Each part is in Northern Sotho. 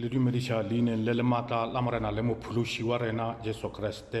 le dumediša leineng le le maatla la Morena le Mophološi wa rena Jesu Kriste.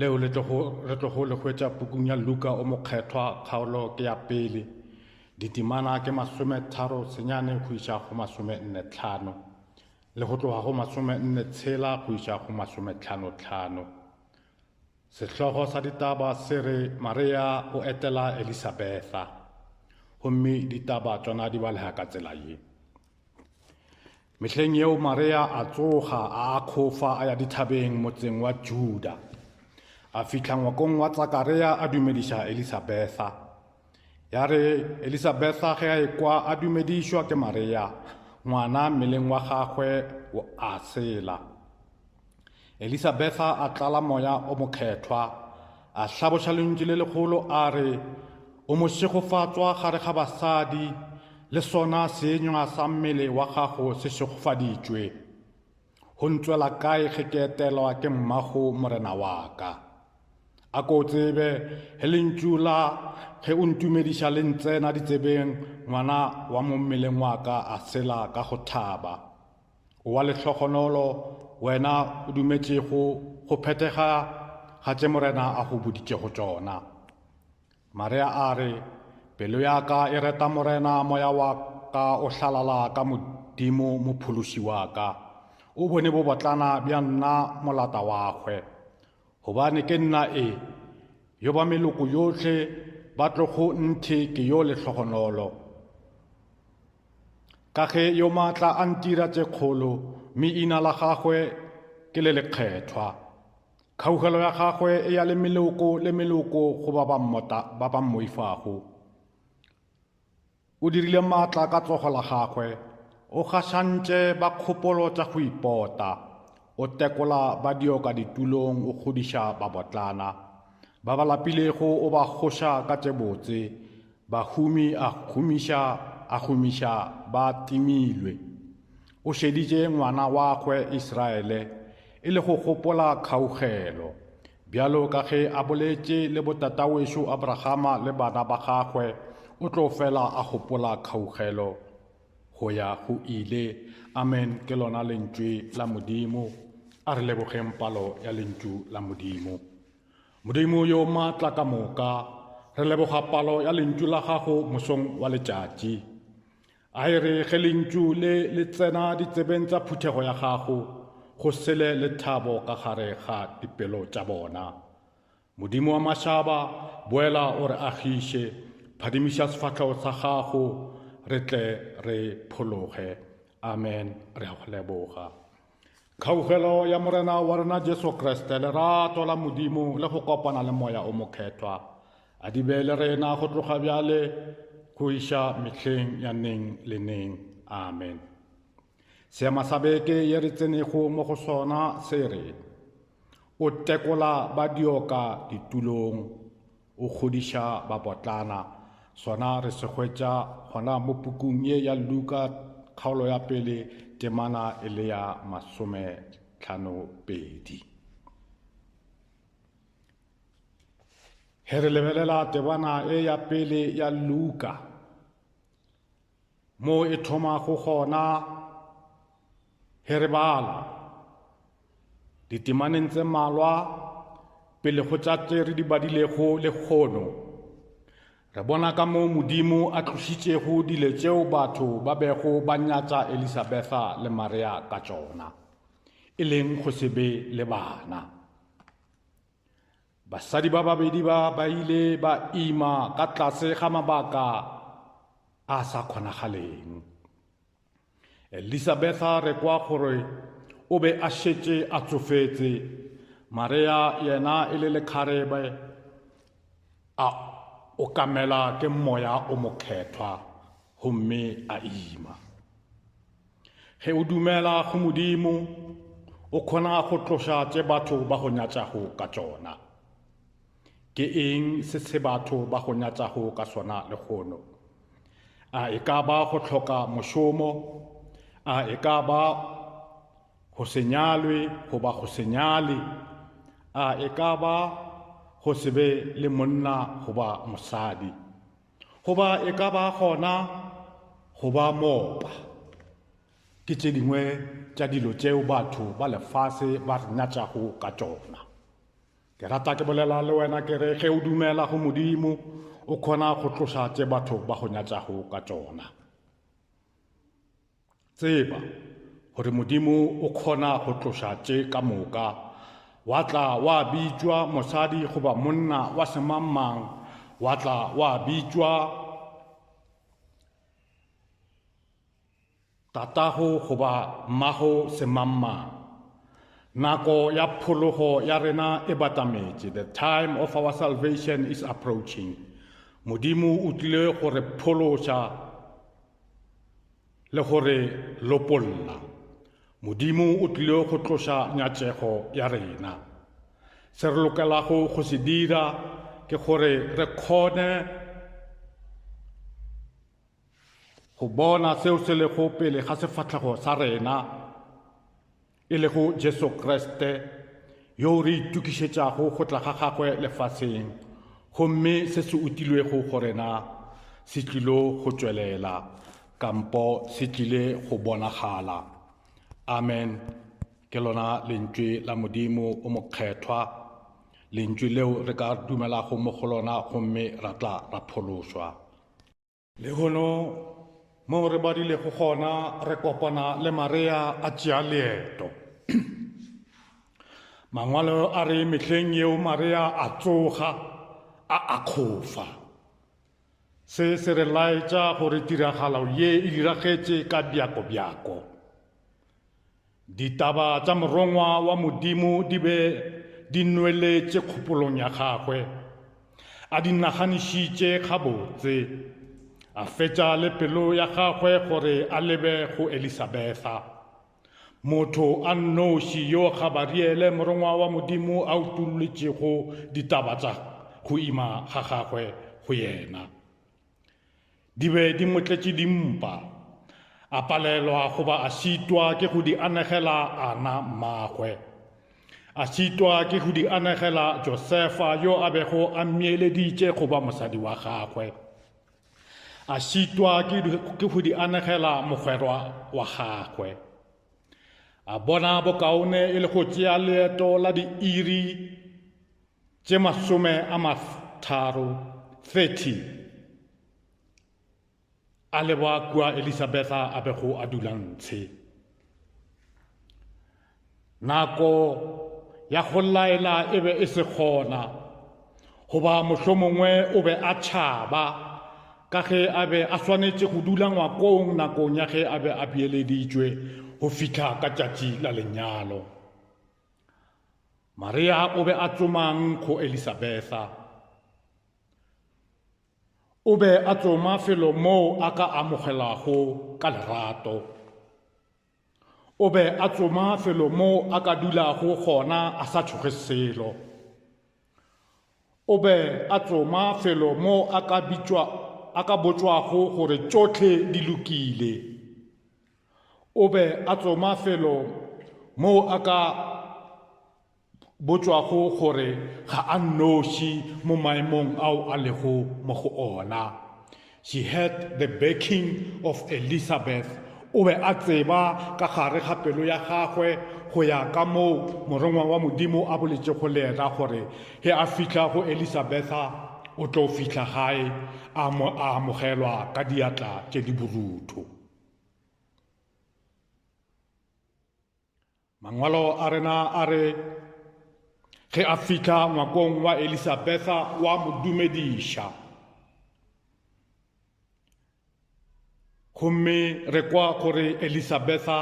Leo le tlogo, re tlogo le hwetša pukung ya Luka o Mokgethwa, kgaolo ke ya pele, ditemana ke masome tharo senyane go iša go masome nne tlhano, le go tloga go masome nne tshela go iša go masome tlhano tlhano. Sehlogo sa ditaba se re Marea o etela Elisabetha, gomme ditaba tšona di balega ka tsela ye. Mehleng yeo Marea a tsoga, a akgofa, a ya dithabeng motseng wa Juda. A fihla ngwakong wa Tsakarea a dumediša Elisabetha. Ya re Elisabetha ge a ekwa a dumedišwa ke Marea, ngwana mmeleng wa gagwe a sela. Elisabetha a tlala moya o mokgethwa, a hlaboša lentšu le legolo a re, O mošegofatswa gare ga basadi, le sona seenywa sa mmele wa gago se šegofaditšwe. Go ntswela kae ge ke etelwa ke mmago morena wa ka? A ko o tsebe, ge lentšu la ge o ntumediša le ntsena ditsebeng, ngwana wa mo mmeleng wa ka a sela ka go thaba. O wa lehlogonolo, wena o dumetšego go phethega ga tše Morena a go boditšego tšona. Marea a re, Pelo ya ka e reta Morena, moya wa ka o hlalala ka Modimo Mophološi wa ka. O bone bobotlana bja nna molata wagwe. Gobane ke nna e, yo ba meloko yohle ba tlogo nthe ke yo lehlogonolo. Ka ge yo maatla a ntira tše kgolo, mme ina la gagwe ke le lekgethwa. Kgaugelo ya gagwe e ya le meloko le meloko go ba ba mmoifago. O dirile maatla ka tsogo la gagwe, o gašantše ba kgopolo tša go ipota. O tekola ba dioka ditulong, o kgodiša babotlana. Ba ba lapilego o ba kgoša ka tše botse, bahumi a humiša a humiša ba timilwe. O šeditše ngwana wagwe Israele e le go gopola kgaugelo, bjalo ka ge a boletše le botatawešu Abrahama le bana ba gagwe, o tlo fela a gopola kgaugelo. Go ya go ile. Amen, ke lona Lentšwe la Modimo. A re lebogeng palo ya Lentšu la Modimo. Modimo yo maatla ka moka, re leboga palo ya Lentšu la Gago mosong wa letšatši. A e re ge Lentšu le le tsena ditsebeng tsa phuthego ya Gago, go sele le thabo ka gare ga dipelo tša bona. Modimo wa mašaba, boela o re agiše, phadimiša sefahlego sa gago, re tle re phologe. Amen. Re a go leboga. Kgaugelo ya Morena wa rena Jesu Kriste, lerato la Modimo le go kopana le moya o mokgethwa a di be le rena go tloga bjale go iša mehleng ya neng le neng. Amen. Seema sa beke ye re tsenego mo go sona se re, O tekola ba dioka ditulong, o kgodiša bapotlana. Sona re se hwetša gona mo pukung ye ya Luka, kgaolo ya pele, temana e le ya masome tlhano pedi. Ge re lebelela tebana e ya pele ya Luka, Moo e thomago gona, ge re bala, ditemaneng tse mmalwa pele go tša tše re di badilego lekgono, re bona ka moo Modimo a tlošitšego dilo tšeo batho ba bego ba nyatša Elisabetha le Maria ka tšona, e leng go se be le bana. Basadi ba babedi ba ba ile ba ima ka tlase ga mabaka a sa kgonagaleng. Elisabetha re kwa gore o be a šetše a tsofetse, Marea yena e le lekgarebe a okamela ke moya o mokgethwa gomme a ima. Ge o dumela go Modimo, o kgona go tloša tše batho ba go nyatšago ka tšona. Ke eng se se batho ba go nyatšago ka sona lehono? A e ka ba go hloka mošomo? A e ka ba go se nyalwe goba go se nyale? A e ka ba go se be le monna goba mosadi? Goba e ka ba gona go ba moopa. Ke tše dingwe tša dilo tšeo batho ba lefase ba re nyatšago ka tšona. Ke rata ke bolela le wena ke re ge o dumela go Modimo o kgona go tloša tše batho ba go nyatšago ka tšona. Tseba gore Modimo o kgona go tloša tše ka moka. Wa tla wa bitšwa mosadi goba monna wa semangmang, wa tla wa bitšwa tatago goba mmago semangmang. Nako ya phologo ya rena e batametše. The time of our salvation is approaching. Modimo o tlile go re phološa. le go re lopolla. Modimo o tlile go tloša nyatšego ya rena. Se re lokelago go se dira ke gore re kgone go bona seo se lego pele ga sefahlego sa rena e lego Jesu Kriste, yoo re itokišetšago go tla ga gagwe lefaseng, gomme se se utilwego go rena se tlilo go tšwelela, kampo se tlile go bonagala. Amen. Ke lona Lentšwe la Modimo o mokgethwa, Lentšwe leo re ka dumelago mo go lona gomme ra tla ra phološwa. Lehono, moo re badilego gona, re kopana le Marea a tšea leeto. Mangwalo a re mehleng yeo Marea a tsoga, a akgofa. Se se re laetša gore tiragalo ye e diragetše ka bjako-bjako. Ditaba tša Morongwa wa Modimo di be di nweletše kgopolong ya gagwe. A di naganišitše gabotse, a fetša le pelo ya gagwe gore a lebe go Elisabetha. Motho a nnoši yo Gabariele Morongwa wa Modimo a utolletšego ditaba tša go ima ga gagwe go yena. Di be di mo tletše dimpa. A palelwa goba a šitwa ke go di anegela Ana mmagwe. A šitwa ke go di anegela Josefa yo a bego a mmiyeleditše go ba mosadi wa gagwe. A šitwa ke go di anegela mogwerwa wa gagwe. A bona bokaone e le go tšea leeto la diiri tše masome a matharo, 30, a le ba kua Elisabetha a bego a dula ntshe. Nako ya go laela e be e se gona, goba mohlomongwe o be a tšhaba ka ge a be a swanetše go dula ngwakong nakong ya ge a be a beeleditšwe go fihla ka tšatši la lenyalo. Maria o be a tsomang go Elisabetha? O be a tsoma felo moo a ka amogelago ka lerato. O be a tsoma felo moo a ka dulago gona a sa tšhoge selo. O be a tsoma felo moo a ka bitšwa a ka botšwago gore tšohle di lokile. O be a tsoma felo moo a ka botšwago gore ga a nnoši mo maemong ao a lego mo go ona. She had the backing of Elizabeth. O be a tseba ka gare ga pelo ya gagwe go ya ka moo morongwa wa Modimo a boletšego le yena gore ge a fihla go Elizabetha o tlo fihla gae a amogelwa ka diatla tše di borutho. mangwalo a rena a re ge a fihla ngwakong wa elisabetha wa mo dumediša gomme re kwa gore elisabetha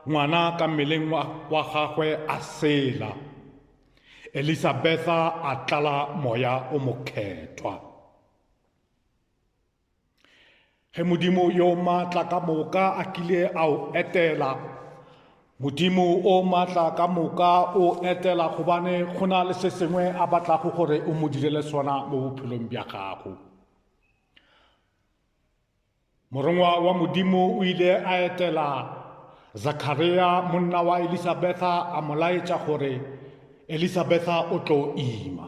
ngwana ka mmeleng wa gagwe a sela elisabetha a tlala moya o mokgethwa Ge Modimo yo matla ka moka a kile a o etela, Modimo o matla ka moka o etela gobane go na le se sengwe a batlago gore o mo direle sona mo bophelong bja gago. Morongwa wa Modimo o ile a etela Zakharia monna wa Elisabetha a mo laetša gore Elisabetha o tlo ima.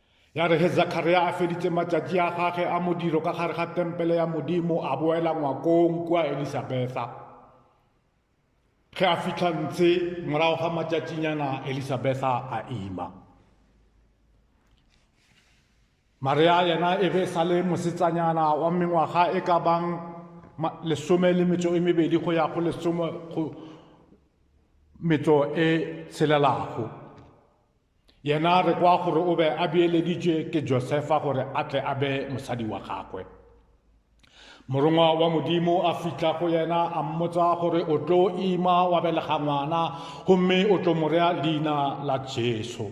Ya re ge Zakharia a feditše matšatši a gage a modiro ka gare ga tempele ya Modimo, a boela ngwakong kua Elisabetha. Ge a fihla ntshe, morago ga matšatšinyana Elisabetha a ima. Maria yena e be e sa le mosetsanyana wa mengwaga e ka bang lesome le metso e mebedi go ya go lesome go metso e tshelelago. Yena re kwa gore o be a beeleditšwe ke Josefa gore a tle a be mosadi wa gagwe. Morongwa wa Modimo a fihla go yena a mmotsa gore o tlo ima wa belega ngwana gomme o tlo morea leina la Jesu.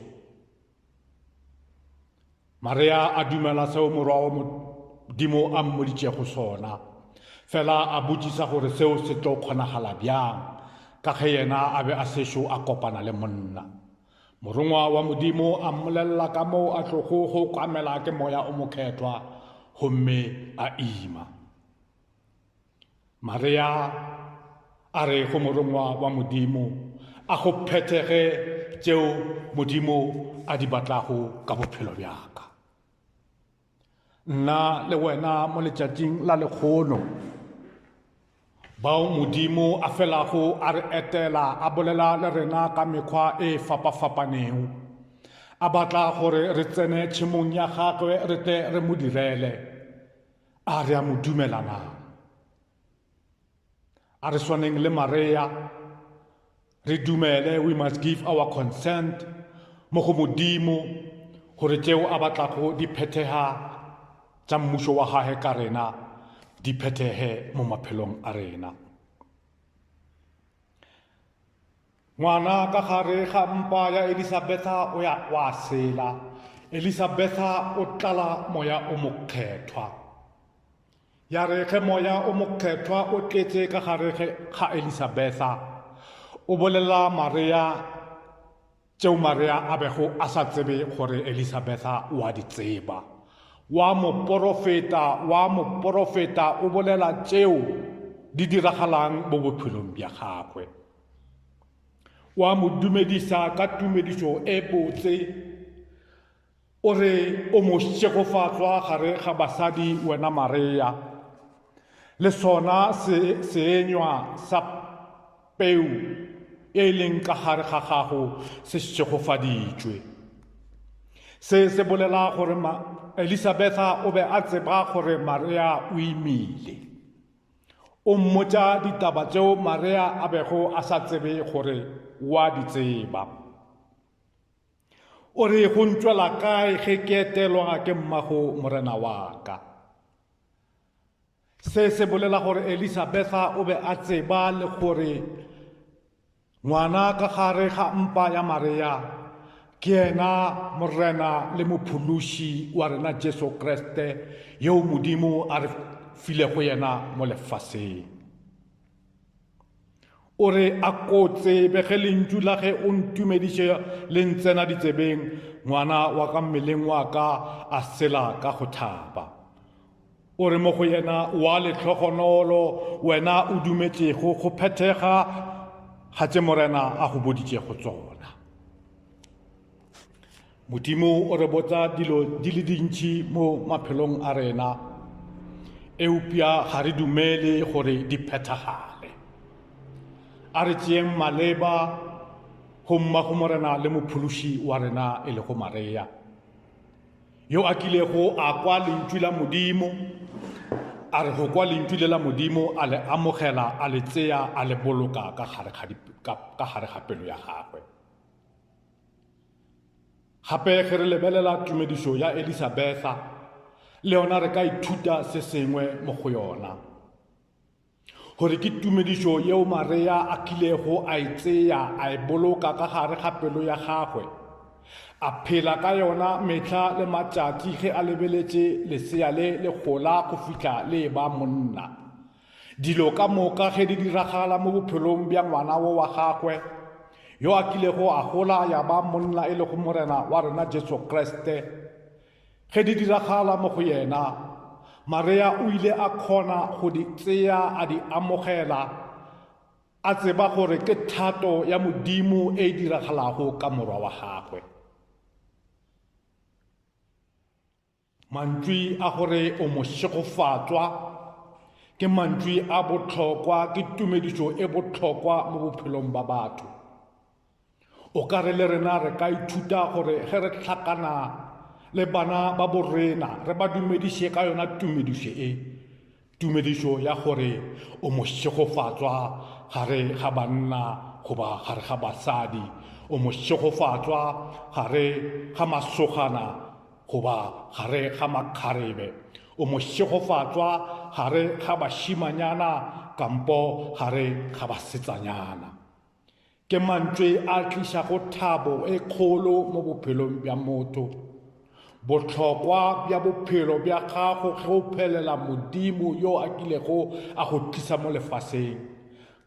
Marea a dumela seo Morwa wa Modimo a mmoditšego sona, fela a botšisa gore seo se tlo kgonagala bjang ka ge yena a be a sešo a kopana le monna. Morongwa wa Modimo a mmolelela ka moo a tlogo go kwamela ke Moya o Mokgethwa gomme a ima. Maria a re go Morongwa wa Modimo, A go phethege tšeo Modimo a di batlago ka bophelo bjaka. Nna le wena mo letšatšing la lekgono, bao Modimo a felago a re etela a bolela le rena ka mekgwa e fapafapanego, a batla gore re tsene tšhemong ya gagwe re tle re mo direle. A re a mo dumela na? A re swaneng le Marea re dumele, we must give our consent mo go Modimo gore tšeo a batlago di phethega tša mmušo wa gage ka rena di phethege mo maphelong a rena. Ngwana ka gare ga mpa ya Elisabetha o ya o a sela. Elisabetha o tlala moya o mokgethwa. Ya re ge moya o mokgethwa o tletše ka gare ga Elisabetha, o bolela Marea tšeo Marea a bego a sa tsebe gore Elisabetha o a di tseba. Wa moporofeta, wa moporofeta o bolela tšeo di diragalang mo bophelong bja gagwe. wa mo dumedisa ka tumedišo e botse o re o mo šegofatswa gare ga basadi wena mareya le sona se seenywa sa peu e leng ka gare ga gago se šegofaditšwe se se bolela gore elisabetha o be a tseba gore mareya o imile O mmotša ditaba tšeo Marea a bego a sa tsebe gore o a di tseba. O re go ntšwela kae ge ke etelwa ke mmago morena wa ka. Se se bolela gore Elisabetha o be a tseba le gore Ngwana ka gare ga mpa ya Mareya ke yena Morena le Mophološi wa rena Jesu Kriste yoo Modimo a re filego yena mo lefaseng. O re a ko tsebe ge lentšu la ge o ntumediše le ntsena ditsebeng, ngwana wa ka mmeleng wa ka a sela ka go thaba. O re mo go yena wa lehlogonolo wena o dumetšego go phethega ga tše Morena a go boditšego tsona. Modimo o re botsa dilo di le dintši mo maphelong a rena, eupša ga re dumele gore di phethagale. A re tšeeng maleba go mmago Morena le mophološi wa rena e lego Maria. Yo a kilego a kwa Lentšu la Modimo, a re go kwa Lentšu le la Modimo, a le amogela, a le tseya, a le boloka ka gare ga pelo ya gagwe. Gape ge re lebelela tumedišo ya Elisabetha, le yona re ka ithuta se sengwe mo go yona. Gore ke tumedišo yeo Marea a kilego a e tseya a e boloka ka gare ga pelo ya gagwe, a phela ka yona mehla le matšatši ge a lebeletše lesea le le gola go fihla le e ba monna. Dilo ka moka ge di diragala mo bophelong bja ngwana wo wa gagwe, yo a kilego a gola ya ba monna e lego Morena wa rena Jesu Kriste, Ge di diragala mo go yena, Marea o ile a kgona go di tsea a di amogela, a tseba gore ke thato ya Modimo e e diragalago ka morwa wa gagwe. Mantšwi a gore o mošegofatswa ke mantšwi a bohlokwa, ke tumedišo e bohlokwa mo bophelong ba batho. O ka re le rena re ka ithuta gore ge re hlakana le bana ba borena re ba dumediše ka yona tumedišo e, tumedišo ya gore o mošegofatswa gare ga banna goba gare ga basadi, o mošegofatswa gare ga masogana goba gare ga makgarebe, o mošegofatswa gare ga bašimanyana kampo gare ga basetsanyana. Ke mantšwe a tlišago thabo e kgolo mo bophelong bja motho. Bohlokwa bja bophelo bja gago ge o phelela Modimo yo a kilego a go tlisa mo lefaseng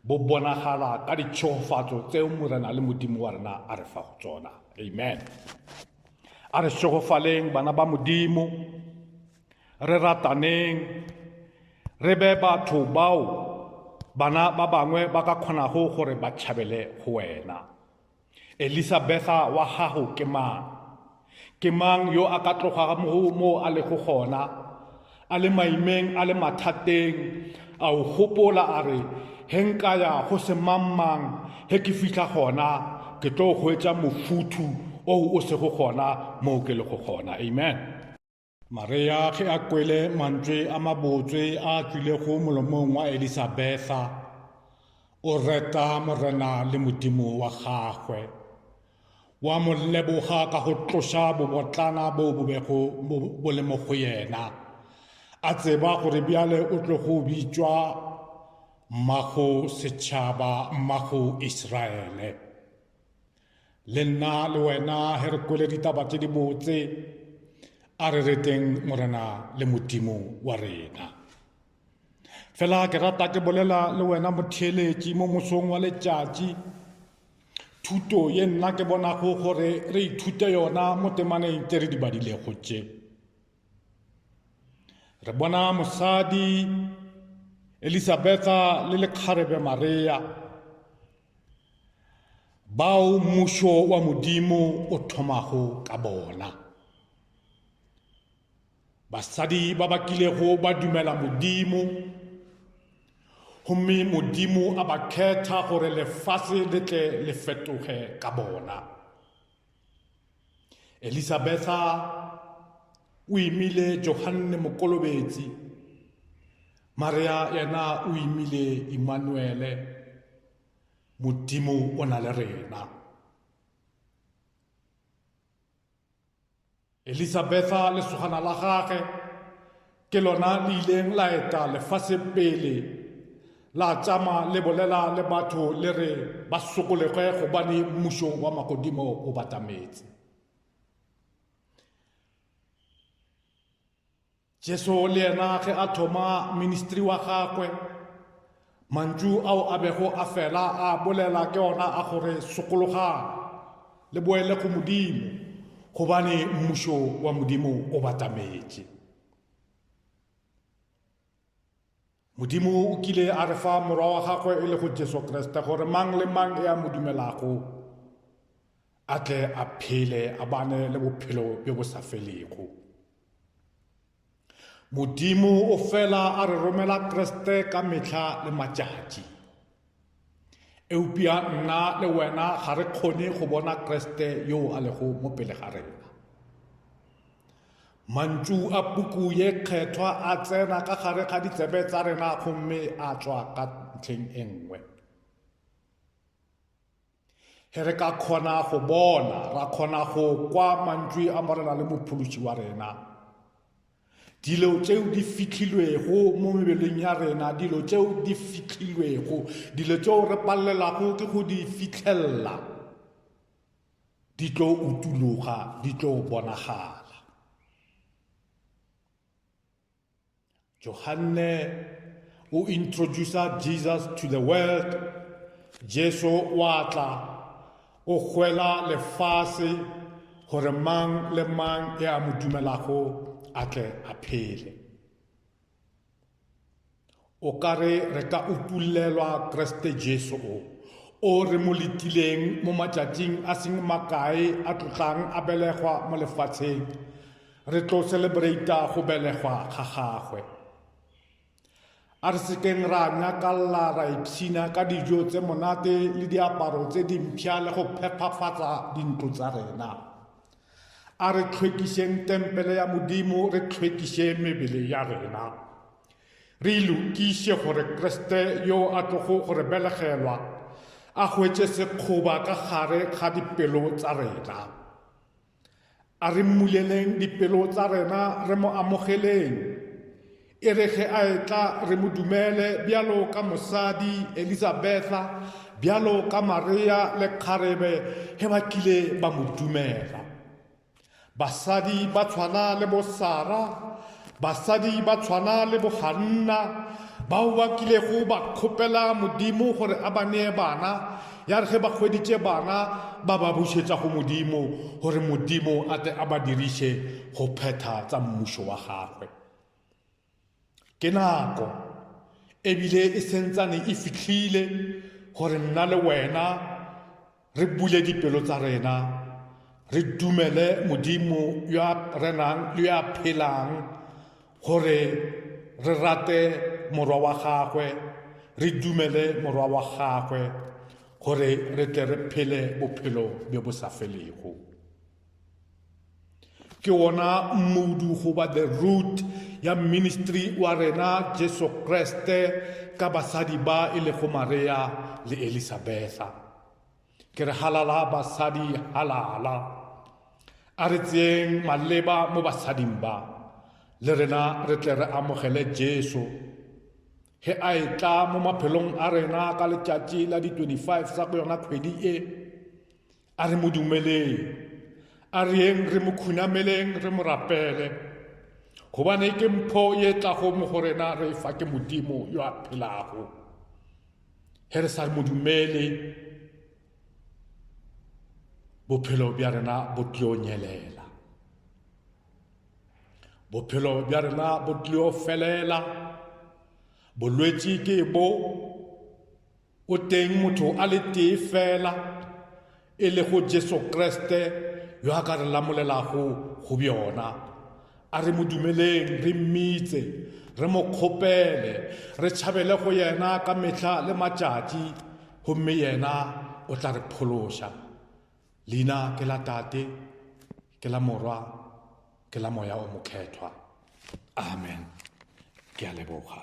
bo bonagala ka ditšhegofatso tseo Morena le Modimo wa rena a re fago tsona. Amen. A re šegofaleng, bana ba Modimo. Re rataneng, re be batho bao bana ba bangwe ba ka kgonago gore ba tšhabele go wena. Elisabetha wa gago ke mang? Ke mang yo a ka tlogago moo a lego gona, a le maimeng, a le mathateng, a o gopola a re, He nka ya go se mang-mang, he ke fihla gona, ke tlo hwetša mofuthu o o sego gona moo ke lego gona. Amen. Maria ge a kwele mantswe a mabotswe a tšwilego molomong wa Elisabetha, o reta Morena le Modimo wa gagwe. Wa mo leboga ka go tloša bobotlana bo bo bego bo le mo go yena. A tseba gore bjale o tlo go bitšwa mmago setšhaba, mmago Israele. Le nna le wena he re kwele ditaba tše dibotse, a re reteng Morena le Modimo wa rena. Fela ke rata ke bolela le wena motheeletši mo mosong wa letšatši, thuto ye nna ke bonago gore re ithute yona mo temaneng tše re di badilego tše. Re bona mosadi Elisabetha le lekgarebe Maria, bao mmušo wa Modimo o thomago ka bona. Basadi ba ba kilego ba dumela Modimo, gomme Modimo a ba khetha gore lefase le tle le fetoge ka bona. Elisabetha o imile Johanne Mokolobetsi, Maria yena o imile Imanuele, Modimo o na le rena. Elisabetha, lesogana la gage, ke lona le ileng la eta lefase pele, la tšama le bolela le batho le re ba sokolege gobane mmušo wa magodimo o batametse. Jesu le yena ge a thoma ministri wa gagwe, mantšu ao a bego a fela a bolela ke ona a gore sokologang le boele go Modimo gobane mmušo wa Modimo o batametše. Modimo o kile a re fa Morwa wa gagwe e lego Jesu Kriste gore mang le mang e a mo dumelago a tle a phele a bane le bophelo bjo bo sa felego. Modimo o fela a re romela Kriste ka mehla le matšatši. Eupša nna le wena ga re kgone go bona Kriste yoo a lego mo pele ga rena. Mantšu a puku ye kgethwa a tsena ka gare ga ditsebe tsa rena gomme a tšwa ka ntlheng e nngwe. Ge re ka kgona go bona, ra kgona go kwa mantšu a Morena le Mophološi wa rena. Dilo tšeo di fihlilwego mo mebeleng ya rena, dilo tšeo di fihlilwego, dilo tšeo re palelwago ke go di fihlella, di tlo utuloga, di tlo bonagala. Johanne o introducer Jesus to the world, Jesu wa tla O kgwela lefase gore mang le mang e a mo dumelago a tle a phele. O ka re re ka utullelwa Kriste Jesu o, o re mo letileng mo matšatšing a seng makae a tlotlang a belegwa mo lefatsheng, re tlo celebrata go belegwa ga gagwe. A re se keng ra nyakalla ra ipshina ka dijo tse monate le diaparo tse dimpsha le go phephafatsa dintlo tsa rena. A re tlhwekišeng tempele ya Modimo, re tlhwekiše mebele ya rena. Re ilokiše gore Kriste yo a tlogo go re belegelwa a hwetše sekgoba ka gare ga dipelo tsa rena. A re mmuleleng dipelo tsa rena re mo amogeleng. E re ge a etla re mo dumele bjalo ka mosadi Elisabetha, bjalo ka Maria le kgarebe ge ba tlile ba mo dumela. Basadi ba tshwana le bo Sara Basadi ba tshwana le boganna bao ba kilego ba kgopela Modimo gore a ba nee bana, ya re ge ba hweditše bana ba ba bušetša go Modimo gore Modimo a tle a ba diriše go phetha tsa mmušo wa gagwe. Ke nako e bile e sentsane e fihlile gore nna le wena Re bule dipelo tsa rena, re dumele Modimo yo a renang le yo a phelang gore re rate morwa wa gagwe, re dumele morwa wa gagwe gore re tle re phele bophelo bjo bo sa felego. Ke wona mmudu goba the root ya ministry wa rena Jesu Kriste ka basadi ba e lego Maria le Elisabetha. Ke re halala basadi halala. A re tseyeng maleba mo basading ba, le rena re tle re amogele Jesu. Ge a e tla mo maphelong a rena ka letšatši la di 25 sa go yona kgwedi e, A re mo dumeleng, a re yeng re mo khunameleng, re mo rapele, gobane ke mpho ye tlago mo go rena re fa ke Modimo yo a phelago. Ge re sa mo dumele, bophelo bja rena bo tlio nyelela bophelo bja rena bo tlio felela bolwetši ke bo O teng motho a le tee fela, e lego Jesu Kriste yo a ka re lamolelago go bjona. A re mo dumeleng, re mmitse, re mo kgopele, re tšhabele go yena ka mehla le matšatši, gomme yena o tla re phološa. Leina ke la Tate, ke la Morwa, ke la Moya o Mokgethwa. Amen. Ke a leboga.